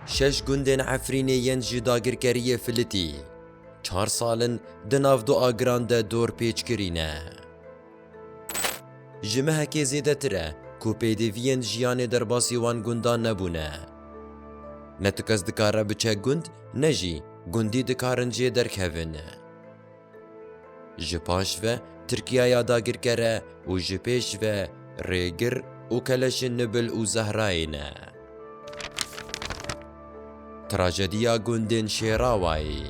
Şeş gundên Efrînê yên ji dagirkeriyê filitî, çar sal in di nav du agiran de dorpêç kirîne. Ji mehekê zêdetir e ku pêdiviyên jiyanê derbasî wan gundan nebûne. Ne tu kes dikare biçe gund ne jî gundî dikarin jê derkevin. Ji paş ve Tirkiya ya dagirkere û ji pêş ve rêgir û keleşên Nubil û Zehrayê ne. Trajediya gundên Şêrawayê.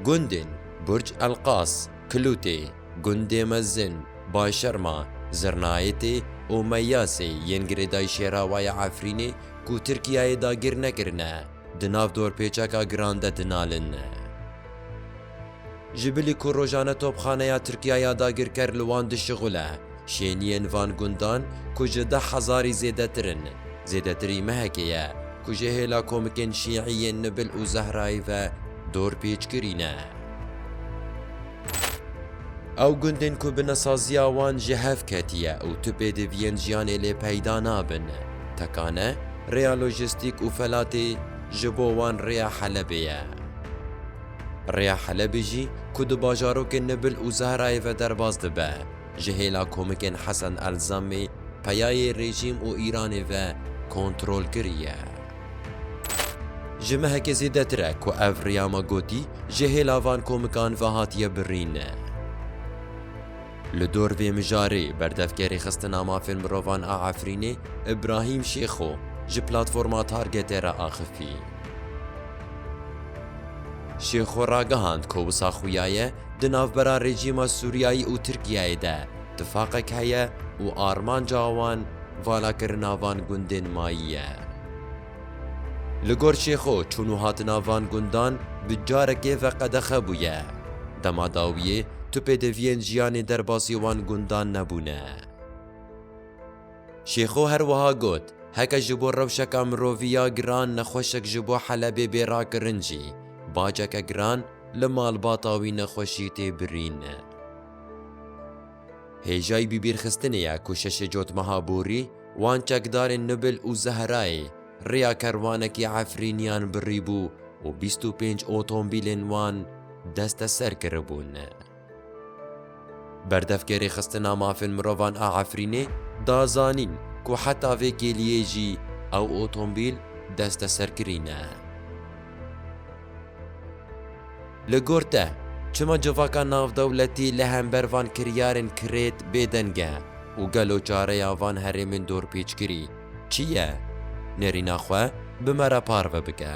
Gundên Burc Elqas, Kilûtê, Gundê Mezin, Bayşerma, Zirnayetê û Meyasê yên girêdayî Şêrawaya Efrînê ku Tirkiyayê dagir nekirine, Di nav dorpêçeka giran de dinalin. Ji bilî ku rojane topxaneya Tirkiya ya dagirker li wan dişixule, şêniyên van gundan ku ji deh hezarî zêdetir in, zêdetirî mehekê ye ku ji hêla komikên şîî yên Nibil û Zehrayî ve dorpêçkirî ne. Ew gundên ku bi nesaziya wan ji hev ketiye û tu pêdiviyên jiyanê lê peyda nabin, tekane, rêya lojîstîk û felatê ji bo wan rêya Helebê ye. Rêya Helebê jî ku di bajarokên Nibil û Zehrayê ve derbas dibe, ji hêla komikên Hesen Elzamê, peyayê rejîm û Îranê ve kontrolkirî ye. Ji mehekê zêdetir e ku ev riya me gotî ji hêla van komikan ve hatiye birîn. Li dor vê mijarê berdevkerê xistina mafên mirovan a Efrînê Îbrahîm Şêxo ji platforma Targetê re axifî. Şêxo ragihand ku wisa xuya ye di navbera rejîma Sûriyayî û Tirkiyeyê de, tifaqek heye û armanca wan valakirina van gundên mayî ye. Li gor Şêxo çûn û hatina van gundan bi carekê veqedexe bûye. Dema dawiyê tu pêdiviyên jiyanê derbasî wan gundan nebûne. Şêxo her wiha got, Heke ji bo rewşeka mirovî ya giran nexweşek ji bo Helebê bê rakirin jî, baceke giran li malbata wî nexweşî tê birîn. Hêjayî bibîrxistinê ye ku şeşê cotmeha borî, wan çekdarên Nubil û Zehrayê, rêya kerwanekî Efrîniyan birîbû û bîst û pênc otombîlên wan desteser kiribûn. Berdevkê Rêxistina Mafên Mirovan a Efrînê da zanîn ku heta vê kêliyê jî ew otombîl desteserkirî ne. Li gor te, çima civaka navdewletî li hember van kiryarên kirêt bêdeng e û gelo çareya van herêmên dorpêçkirî çi ye? Nêrîna xwe bi me re parve bike.